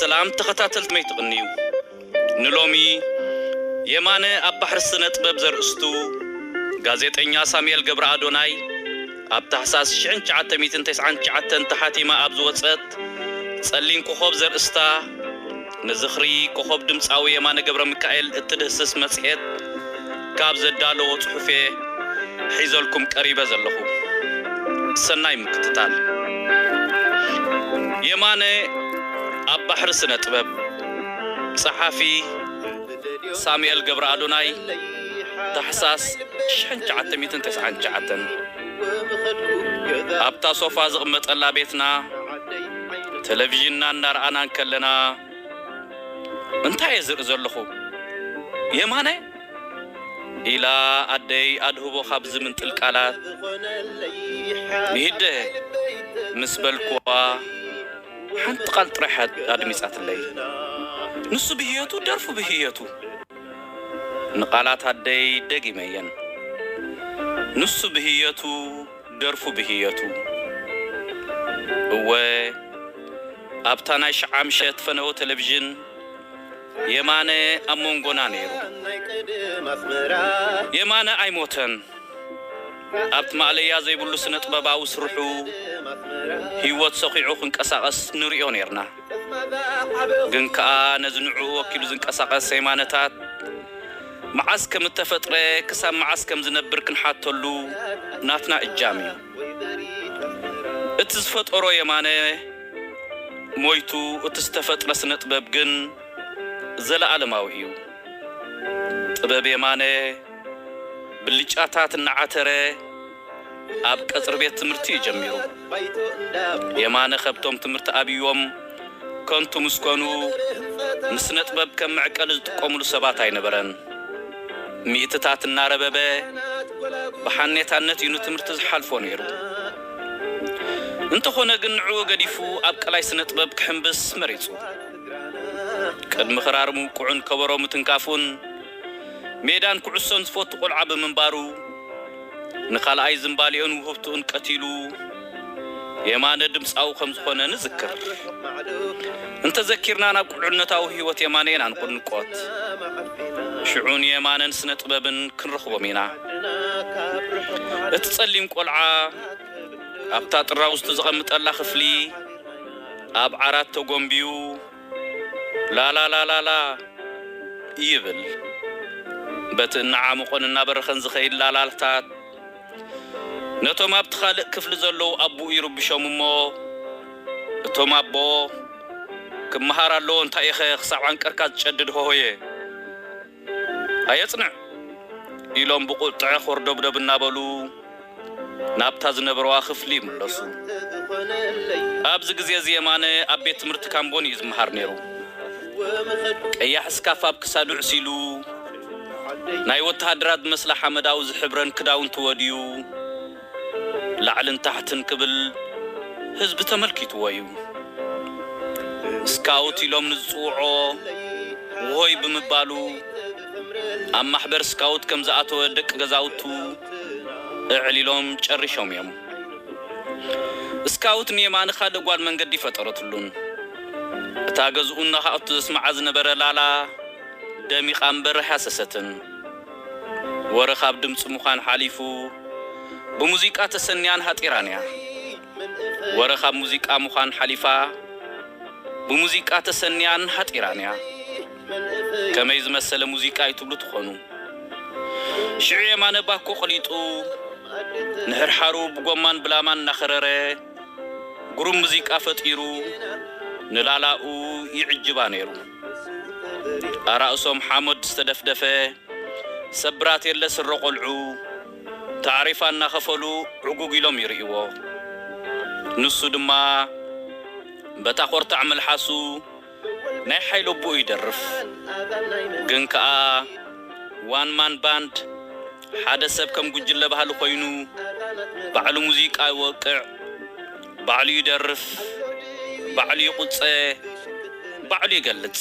ሰላም ተኸታተልቲ መይ ትቕንዩ ንሎሚ የማነ ኣብ ባሕሪ ስነጥበብ ዘርእስቱ ጋዜጠኛ ሳሙኤል ገብረኣዶናይ ኣብ ታሕሳስ ሽሕን ትሽዓተ ሚእትን ተስዓን ትሽዓተን ተሓቲማ ኣብ ዝወጸት ጸሊም ኮኾብ ዘርእስታ ንዝኽሪ ኮኾብ ድምጻዊ የማነ ገብረሚካኤል እትድህስስ መጽሔት ካብ ዘዳለዎ ጽሑፍ'የ ሒዘልኩም ቀሪበ ዘለኹ። ሰናይ ምክትታል። የማነ ኣብ ባሕሪ ስነ-ጥበብ። ጸሓፊ፣ ሳሙኤል ገብረኣዶናይ ታሕሳስ ሽሕን ትሽዓተ ሚእትን ተስዓን ትሽዓተን ኣብታ ሶፋ ዝቕመጠላ ቤትና፣ ተለቪዥንና እናርኣና እንከለና እንታይ እየ ዝርኢ ዘለኹ? የማነ? ኢላ ኣደይ ኣድህቦ ካብ ዝምንጥል ቃላት ንሂደ ምስ በልኩዋ ሓንቲ ቃል ጥራሕ እያ ኣድሚጻትለይ። ንሱ ብህየቱ ደርፉ ብህየቱ! ንቃላት ኣደይ ደጊመየን። ንሱ ብህየቱ! ደርፉ ብህየቱ እወ ኣብታ ናይ ሽዓምሸት ፈነወ ተለቪዥን የማነ ኣብ ሞንጎና ነይሩ። የማነ ኣይሞተን ኣብቲ ማእለያ ዘይብሉ ስነጥበባዊ ስርሑ ህይወት ሰኺዑ ክንቀሳቐስ ንርእዮ ነይርና። ግን ከኣ ነዚ ንዕኡ ወኪሉ ዝንቀሳቐስ የማነታት መዓስ ከም እተፈጥረ ክሳብ መዓስ ከም ዝነብር ክንሓተሉ ናትና እጃም እዩ። እቲ ዝፈጠሮ የማነ ሞይቱ እቲ ዝተፈጥረ ስነጥበብ ግን ዘለኣለማዊ እዩ። ጥበብ የማነ ብልጫታት እናዓተረ፣ ኣብ ቀጽሪ ቤት ትምህርቲ እዩ ጀሚሩ። የማነ ከብቶም ትምህርቲ ኣብዩዎም ከንቱ ምስ ኮኑ ንስነጥበብ ከም መዕቀሊ ዝጥቀሙሉ ሰባት ኣይነበረን። ሚእትታት እናረበበ ብሓኔታነት እዩ ንትምህርቲ ዝሓልፎ ነይሩ። እንተኾነ ግን ንዕኡ ገዲፉ ኣብ ቀላይ ስነጥበብ ክሕምብስ መሪጹ። ቅድሚ ክራር ምውቅዑን ከበሮ ምትንካፉን ሜዳን ኩዕሶን ዝፈቱ ቆልዓ ብምንባሩ፣ ንካልኣይ ዝምባሌኡን ውህብትኡን ቀቲሉ የማነ ድምጻዊ ከም ዝኾነ ንዝክር። እንተዘኪርና ናብ ቁልዕነታዊ ህይወት የማነ ኢና ንቁንቆት። ሽዑ ንየማነን ስነ-ጥበብን ክንረኽቦም ኢና። እቲ ጸሊም ቆልዓ ኣብታ ጥራውዝቱ ዘቐምጠላ ክፍሊ ኣብ ዓራት ተጎምቢዩ፣ ላላላላላ ይብል በቲ እናዓሞቐን እናበረኸን ዝኸይድ ላላታታት ነቶም ኣብቲ ካልእ ክፍሊ ዘለዉ ኣቡኡ ይርብሾም እሞ እቶም ኣቦ ክመሃር ኣለዎ እንታይ'ዩኸ ክሳብ ዓንቀርካ ዝጨድድ ሆሆየ ኣየጽንዕ ኢሎም ብቁጥዐ ኾርዶብዶብ እናበሉ ናብታ ዝነበርዋ ክፍሊ ይምለሱ። ኣብዚ ግዜ እዚ የማነ ኣብ ቤት ትምህርቲ ካምቦኒ እዩ ዝመሃር ነይሩ። ቀያሕ እስካፍ ኣብ ክሳዱ ዕሲሉ፣ ናይ ወተሃደራት ዝመስላ ሓመዳዊ ዝሕብረን ክዳውንቱ ወድዩ፣ ላዕልን ታሕትን ክብል ህዝቢ ተመልኪትዎ'ዩ። ስካውት ኢሎም ንዝጽውዖ ውሆይ ብምባሉ ኣብ ማሕበር ስካውት ከም ዝኣተወ ደቂ ገዛውቱ እዕሊሎም ጨሪሾም'ዮም። ስካውት ንየማነ ካልእ ጓል መንገዲ ፈጠረትሉን እታ ገዝኡ እናኻኣቱ ዘስምዓ ዝነበረ ላላ ደሚቓ እምበር ኣይሃሰሰትን። ወረ ካብ ድምጺ ምዃን ሓሊፉ ብሙዚቃ ተሰንያን ሃጢራን እያ። ወረ ካብ ሙዚቃ ምዃን ሓሊፋ ብሙዚቃ ተሰንያን ሃጢራን እያ። ከመይ ዝመሰለ ሙዚቃ እዩ ትብሉ ትኾኑ። ሽዑ የማነ ባኮ ቅሊጡ ንሕርሓሩ ብጎማን ብላማን እናኸረረ ግሩም ሙዚቃ ፈጢሩ ንላላኡ ይዕጅባ ነይሩ። ኣራእሶም ሓሞድ ዝተደፍደፈ ሰብራት የለ ስረ ቆልዑ ታዕሪፋ እናኸፈሉ ዕጉግ ኢሎም ይርእይዎ። ንሱ ድማ በታ ኮርታዕ መልሓሱ ናይ ሓይሊ ኣቡኡ ይደርፍ። ግን ከኣ ዋን ማን ባንድ፣ ሓደ ሰብ ከም ጉጅለ ባህሊ ኮይኑ ባዕሉ ሙዚቃ ይወቅዕ። ባዕሉ ይደርፍ ባዕሉ ይቁጸ ባዕሉ ይገልጽ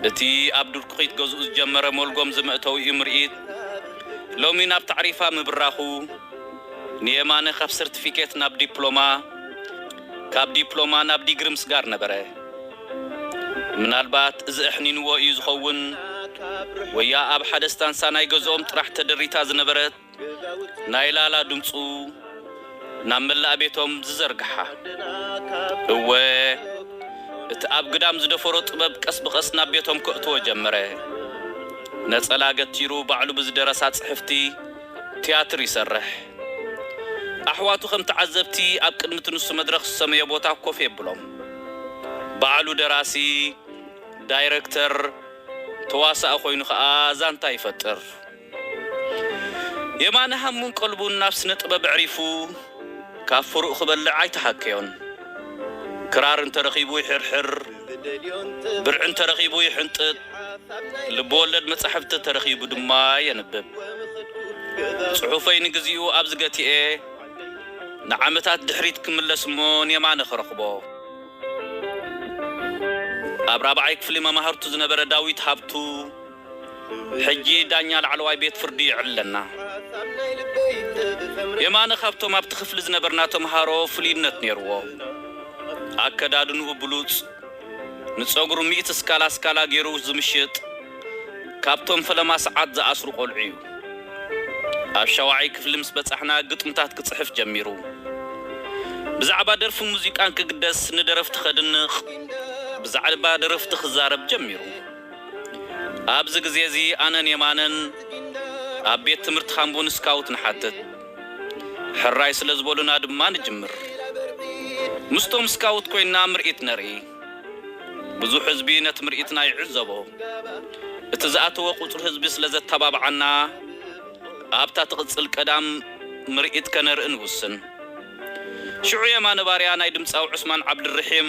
እቲ ኣብ ድርኩኺት ገዝኡ ዝጀመረ ሞልጎም ዝመእተዊኡ ምርኢት ሎሚ ናብ ታዕሪፋ ምብራኹ ንየማነ ካብ ሰርቲፊኬት ናብ ዲፕሎማ ካብ ዲፕሎማ ናብ ዲግሪ ምስጋር ነበረ ምናልባት እዚ ኣሕኒንዎ እዩ ዝኸውን ወያ ኣብ ሓደ ስታንሳ ናይ ገዝኦም ጥራሕ ተደሪታ ዝነበረት ናይ ላላ ድምጹ ናብ መላእ ቤቶም ዝዘርግሓ። እወ እቲ ኣብ ግዳም ዝደፈሮ ጥበብ ቀስ ብቐስ ናብ ቤቶም ከእትዎ ጀመረ። ነጸላ ገቲሩ ባዕሉ ብዝደረሳ ጽሕፍቲ ትያትር ይሰርሕ። ኣሕዋቱ ከም ተዓዘብቲ ኣብ ቅድሚ እቲ ንሱ መድረኽ ዝሰመዮ ቦታ ኮፍ የብሎም። ባዕሉ ደራሲ፣ ዳይረክተር፣ ተዋሳኢ ኮይኑ ከኣ ዛንታ ይፈጥር። የማነ ሃሙን ቀልቡን ናብ ስነ ጥበብ ኣዕሪፉ ካብ ፍሩኡ ክበልዕ ኣይተሓከዮን። ክራር እንተረኺቡ ይሕርሕር፣ ብርዒ እንተረኺቡ ይሕንጥጥ፣ ልብ ወለድ መጻሕፍቲ እንተረኺቡ ድማ የንብብ። ጽሑፈይ ንግዚኡ ኣብዚ ገቲኤ ንዓመታት ድሕሪት ክምለስ እሞ ንየማነ ክረኽቦ። ኣብ ራብዓይ ክፍሊ መማህርቱ ዝነበረ ዳዊት ሃብቱ፣ ሕጂ ዳኛ ላዕለዋይ ቤት ፍርዲ ይዕለና። የማነ ካብቶም ኣብቲ ክፍሊ ዝነበርና ተምሃሮ ፍሉይነት ነይርዎ። ኣከዳድንኡ ብሉጽ፣ ንጸጉሩ ሚእቲ ስካላ ስካላ ገይሩ ዝምሽጥ፣ ካብቶም ፈለማ ሰዓት ዝኣስሩ ቆልዑ'ዩ። ኣብ ሻውዓይ ክፍሊ ምስ በጻሕና ግጥምታት ክጽሕፍ ጀሚሩ። ብዛዕባ ደርፍን ሙዚቃን ክግደስ ንደረፍቲ ከድንቕ፣ ብዛዕባ ደረፍቲ ክዛረብ ጀሚሩ። ኣብዚ ግዜ እዚ ኣነን የማነን ኣብ ቤት ትምህርቲ ሃምቡን ስካውት ንሓትት። ሕራይ ስለ ዝበሉና ድማ ንጅምር። ምስቶም ስካውት ኮይንና ምርኢት ነርኢ። ብዙሕ ህዝቢ ነቲ ምርኢትና ይዕዘቦ። እቲ ዝኣተወ ቁጽሪ ህዝቢ ስለ ዘተባብዓና ኣብታ ትቕጽል ቀዳም ምርኢት ከነርኢ ንውስን። ሽዑ የማነ ባርያ ናይ ድምጻዊ ዑስማን ዓብድርሒም፣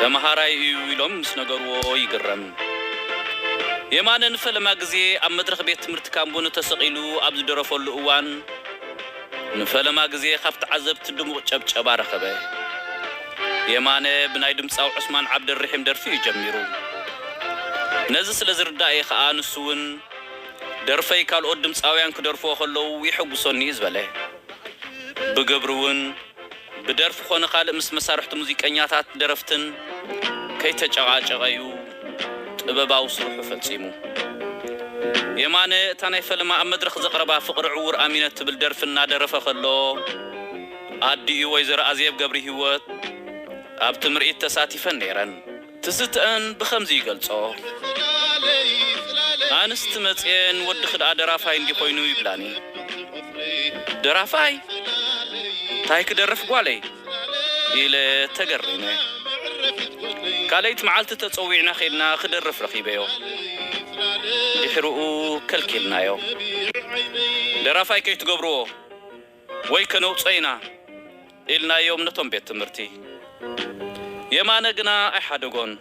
ተምሃራይ እዩ ኢሎም ምስ ነገርዎ ይግረም። የማነ ንፈለማ ግዜ ኣብ መድረኽ ቤት ትምህርቲ ካምቡኒ ተሰቒሉ ኣብ ዝደረፈሉ እዋን ንፈለማ ግዜ ካብ ተዓዘብቲ ድሙቕ ጨብጨባ ረኸበ። የማነ ብናይ ድምጻዊ ዑስማን ዓብደልርሒም ደርፊ እዩ ጀሚሩ። ነዚ ስለ ዝርዳእ'የ ከኣ ንሱ'ውን ደርፈይ ካልኦት ድምጻውያን ክደርፍዎ ከለዉ የሐጉሶኒ እዩ ዝበለ። ብግብሪ'ውን። ብደርፊ ኮነ ካልእ ምስ መሳርሕቱ ሙዚቀኛታት ደረፍትን ከይተጨቓጨቐ'ዩ ጥበባዊ ስርሑ ፈጺሙ። የማነ እታ ናይ ፈለማ ኣብ መድረኽ ዘቕረባ ፍቕሪ ዕዉር ኣሚነ እትብል ደርፊ እናደረፈ ከሎ፣ ኣዲኡ ወይዘሮ ኣዜብ ገብሪሂወት ኣብቲ ምርኢት ተሳቲፈን ነይረን። ትዝትኣን ብኸምዚ ይገልጾ። ኣንስቲ መጽየ ንወድኺ ደኣ ደራፋይ እንድዩ ኮይኑ ይብላኒ። ደራፋይ? እንታይ ክደርፍ ጓለይ? ኢለ ተገሪመ። ካልኣይቲ መዓልቲ ተጸዊዕና ኬድና ክደርፍ ረኺበዮ። ድሕርኡ ከልኪልናዮ። ደራፋይ ከይትገብርዎ! ወይ ከነውጽኦ ኢና ኢልናዮም ነቶም ቤት ትምህርቲ። የማነ ግና ኣይሓደጎን።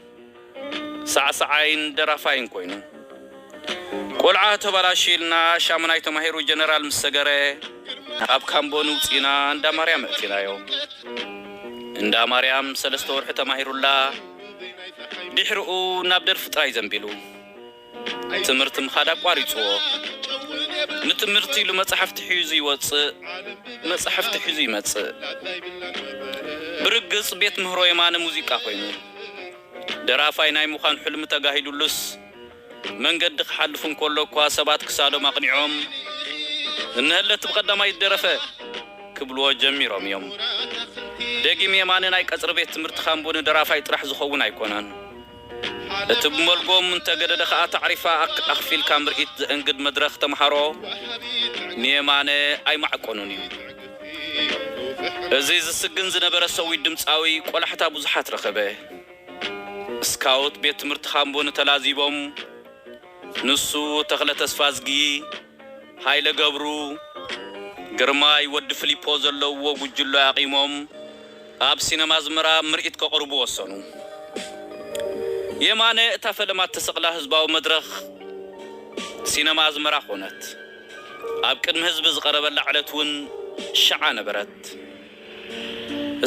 ሳዕሳዓይን ደራፋይን ኮይኑ። ቆልዓ ተባላሽዩ ኢልና ሻሙናይ ተማሂሩ ጀነራል ምስ ሰገረ ካብ ካምቦ ንውጽኢና እንዳ ማርያም ኣእቲናዮ። እንዳ ማርያም ሰለስተ ወርሒ ተማሂሩላ ድሕርኡ ናብ ደርፊ ጥራይ ዘንቢሉ። ትምህርቲ ምኻድ ኣቋሪጽዎ ንትምህርቲ ኢሉ መጻሕፍቲ ሒዙ ይወጽእ መጻሕፍቲ ሒዙ ይመጽእ ብርግጽ ቤት ምህሮ የማነ ሙዚቃ ኮይኑ ደራፋይ ናይ ምዃን ሕልሚ ተጋሂዱሉስ መንገዲ ክሓልፍ እንከሎ እኳ ሰባት ክሳዶም ኣቕኒዖም እነሀለቲ ብቐዳማይት ደረፈ ክብልዎ ጀሚሮም እዮም ደጊም የማነ ናይ ቀጽሪ ቤት ትምህርቲ ካምቦ ንደራፋይ ጥራሕ ዝኸውን ኣይኮነን እቲ ብመልጎም እንተገደደ ከኣ ታዕሪፋ ኣክፊልካ ምርኢት ዘእንግድ መድረኽ ተመሃሮ ንየማነ ኣይማዕቆኑን እዩ። እዚ ዝስግን ዝነበረ ሰዊድ ድምጻዊ ቆላሕታ ብዙሓት ረኸበ። ስካውት ቤት ትምህርቲ ሃምቡን ተላዚቦም ንሱ፣ ተኽለ ተስፋዝጊ፣ ሃይለ ገብሩ፣ ግርማይ ወዲ ፍሊፖ ዘለውዎ ጉጅሎ ኣቚሞም ኣብ ሲነማ ኣዝመራ ምርኢት ከቕርቡ ወሰኑ። የማነ እታ ፈለማ እተሰቕላ ህዝባዊ መድረኽ ሲነማ ኣዝመራ ኮነት። ኣብ ቅድሚ ህዝቢ ዝቐረበላ ዕለት እውን ሽዓ ነበረት።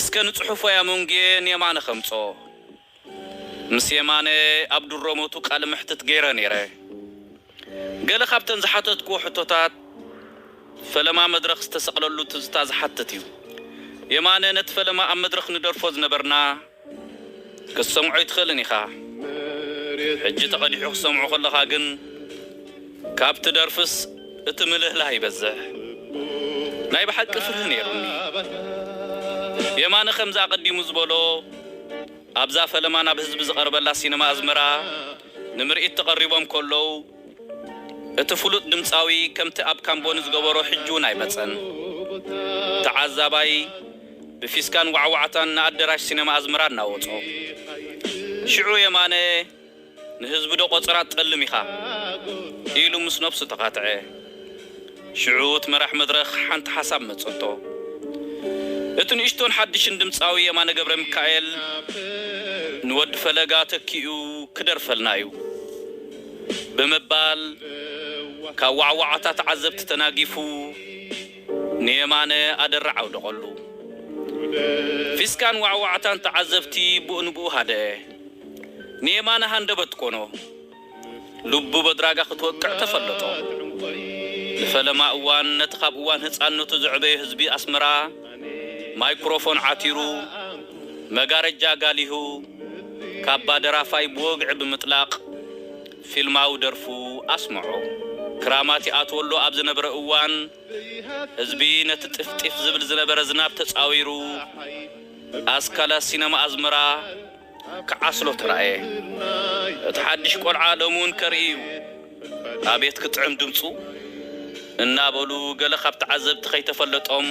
እስከ ንጽሑፎይ ኣመንጉየ ንየማነ ከምጽኦ። ምስ የማነ ኣብ ድሮ ሞቱ ቃለ መሕትት ገይረ ነይረ። ገለ ካብተን ዝሓተትክዎ ሕቶታት ፈለማ መድረኽ ዝተሰቕለሉ ትዝታ ዝሓትት እዩ። የማነ ነቲ ፈለማ ኣብ መድረኽ ንደርፎ ዝነበርና ክትሰምዖ ኣይትኽእልን ኢኻ። ሕጂ ተቐዲሑ ክትሰምዖ ከለኻ ግን። ካብቲ ደርፍስ እቲ ምልህላህ ይበዝሕ ናይ ብሓቂ ፍርሂ ነይሩኒ የማነ ከምዚ ኣቀዲሙ ዝበሎ ኣብዛ ፈለማ ናብ ህዝቢ ዝቀርበላ ሲነማ ኣዝመራ ንምርኢት ተቀሪቦም ከለዉ እቲ ፍሉጥ ድምጻዊ ከምቲ ኣብ ካምቦኒ ዝገበሮ ሕጂ ውን ኣይመጸን ተዓዛባይ ብፊስካን ዋዕዋዕታን ንኣደራሽ ሲነማ ኣዝመራ እናወጾ ሽዑ የማነ ንህዝቢ ዶ ቆጽራ ትጠልም ኢኻ ኢሉ ምስ ነብሱ ተኻትዐ። ሽዑ እቲ መራሕ መድረኽ ሓንቲ ሓሳብ መጸቶ። እቲ ንእሽቶን ሓድሽን ድምጻዊ የማነ ገብረሚካኤል ንወዲ ፈለጋ ተኪኡ ክደርፈልና'ዩ ብምባል ካብ ዋዕዋዕታ ተዓዘብቲ ተናጊፉ ንየማነ ኣደራዕ ኣውደቐሉ። ፊስካን ዋዕዋዕታን ተዓዘብቲ ብኡንብኡ ሃደኣ። ንየማነ ሃንደበት ኮኖ ልቡ በድራጋ ክትወቅዕ ተፈለጦ። ንፈለማ እዋን ነቲ ካብ እዋን ህጻንነቱ ዘዕበዮ ህዝቢ ኣስመራ ማይኩሮፎን ዓቲሩ፣ መጋረጃ ጋሊሁ፣ ካባ ደራፋይ ብወግዒ ብምጥላቕ ፊልማዊ ደርፉ ኣስመዖ። ክራማት ይኣትወሉ ኣብ ዝነበረ እዋን ህዝቢ ነቲ ጢፍ-ጢፍ ዝብል ዝነበረ ዝናብ ተጻዊሩ ኣስካለ ሲነማ ኣዝመራ፣ ክዓስሎ ተራእየ እቲ ሓድሽ ቆልዓ ሎሚ ውን ከርኢ ዩ ኣቤት ክጥዕም ድምጹ እናበሉ ገለ ካብ ተዓዘብቲ ከይተፈለጦም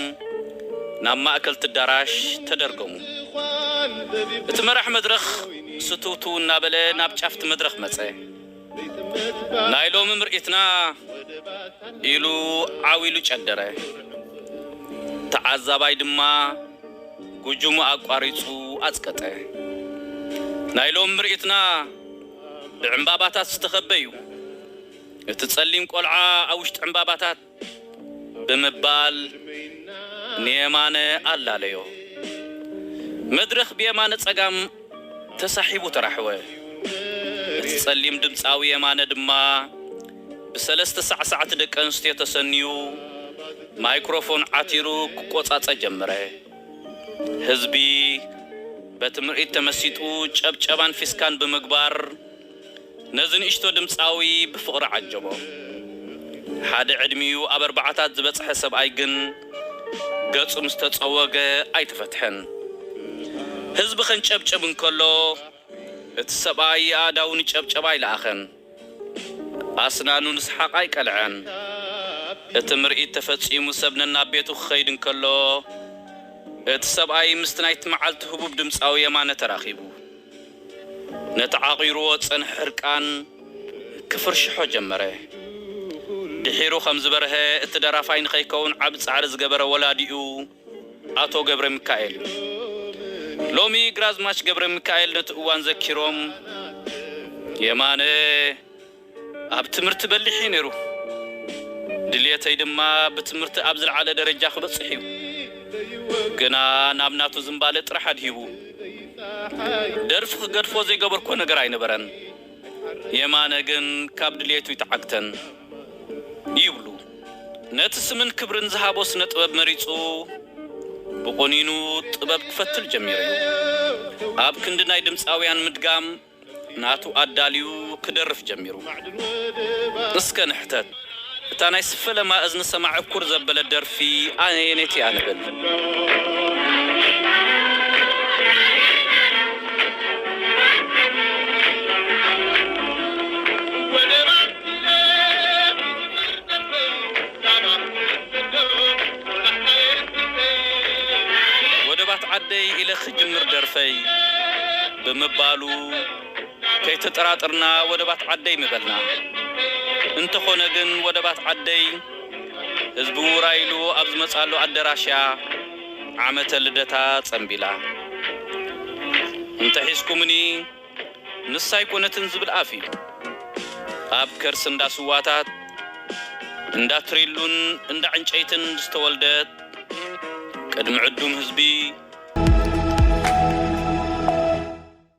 ናብ ማእከልቲ ኣዳራሽ ተደርገሙ እቲ መራሕ መድረኽ ስትውትው እናበለ ናብ ጫፍቲ መድረኽ መጸ። ናይ ሎሚ ምርኢትና ኢሉ ዓው ኢሉ ጨደረ። ተዓዛባይ ድማ ጉጅሙ ኣቋሪጹ ኣጽቀጠ። ናይ ሎሚ ምርኢትና ብዕምባባታት ዝተኸበ'ዩ። እቲ ጸሊም ቆልዓ ኣብ ውሽጢ ዕምባባታት ብምባል ንየማነ ኣላለዮ። መድረኽ ብየማነ ጸጋም ተሳሒቡ ተራሕወ። እቲ ጸሊም ድምጻዊ የማነ ድማ ብሰለስተ ሳዕሳዕቲ ደቂ ኣንስትዮ ተሰንዩ ማይክሮፎን ዓቲሩ ክቆጻጸ ጀምረ። ህዝቢ በቲ ምርኢት ተመሲጡ ጨብጨባን ፊስካን ብምግባር፣ ነዚ ንእሽቶ ድምጻዊ ብፍቕሪ ዓጀቦ። ሓደ ዕድሚኡ ኣብ ኣርባዓታት ዝበጽሐ ሰብኣይ ግን ገጹ ምስ ተጸወገ ኣይተፈትሐን። ህዝቢ ከንጨብጭብ እንከሎ እቲ ሰብኣይ ኣእዳዉ ንጨብጨባ ኣይለኣኸን። ኣስናኑ ንስሓቕ ኣይቀልዐን። እቲ ምርኢት ተፈጺሙ ሰብ ነናብ ቤቱ ክኸይድ እንከሎ እቲ ሰብኣይ ምስቲ ናይቲ መዓልቲ ህቡብ ድምጻዊ የማነ ተራኺቡ። ነቲ ዓቚሩዎ ዝጸንሐ ሕርቃን ክፍርሽሖ ጀመረ። ድሒሩ ከም ዝበርሀ እቲ ደራፋይ ንኸይከውን ዓቢ ጻዕሪ ዝገበረ ወላዲኡ ኣቶ ገብረሚካኤል እዩ። ሎሚ ግራዝማች ገብረሚካኤል ነቲ እዋን ዘኪሮም፣ የማነ! ኣብ ትምህርቲ በሊሕ እዩ ነይሩ። ድልየተይ ድማ ብትምህርቲ ኣብ ዝለዓለ ደረጃ ክበጽሕ እዩ። ግና ናብ ናቱ ዝንባለ ጥራሕ ኣድሂቡ። ደርፊ ክገድፎ ዘይገበርኩዎ ነገር ኣይነበረን። የማነ ግን ካብ ድልየቱ ኣይተዓግተን። ይብሉ ነቲ ስምን ክብርን ዝሃቦ ስነ ጥበብ መሪጹ ብቑኒኑ ጥበብ ክፈትል ጀሚሩ እዩ። ኣብ ክንዲ ናይ ድምጻውያን ምድጋም፣ ናቱ ኣዳልዩ ክደርፍ ጀሚሩ። እስከ ንሕተት እታ ናይ ስፈለማ እዝኒ ሰማዕ እኩር ዘበለት ደርፊ ኣየነይቲ እያ ንብል። ወደባት ዓደይ ኢለ ክጅምር ደርፈይ ብምባሉ ከይተጠራጠርና ወደባት ዓደይ ምበልና። እንተኾነ ግን ወደባት ዓደይ ህዝቢ ውራይ ኢሉ ኣብ ዝመጽኣሉ ኣደራሽ'ያ ዓመተ ልደታ ጸንቢላ። እንተ ሒዝኩምኒ! ንሳ ኣይኮነትን ዝብል ኣፍ እዩ። ኣብ ከርሲ እንዳ ስዋታት፣ እንዳ ትሪሉን እንዳ ዕንጨይትን ዝተወልደት፣ ቅድሚ ዕዱም ህዝቢ፣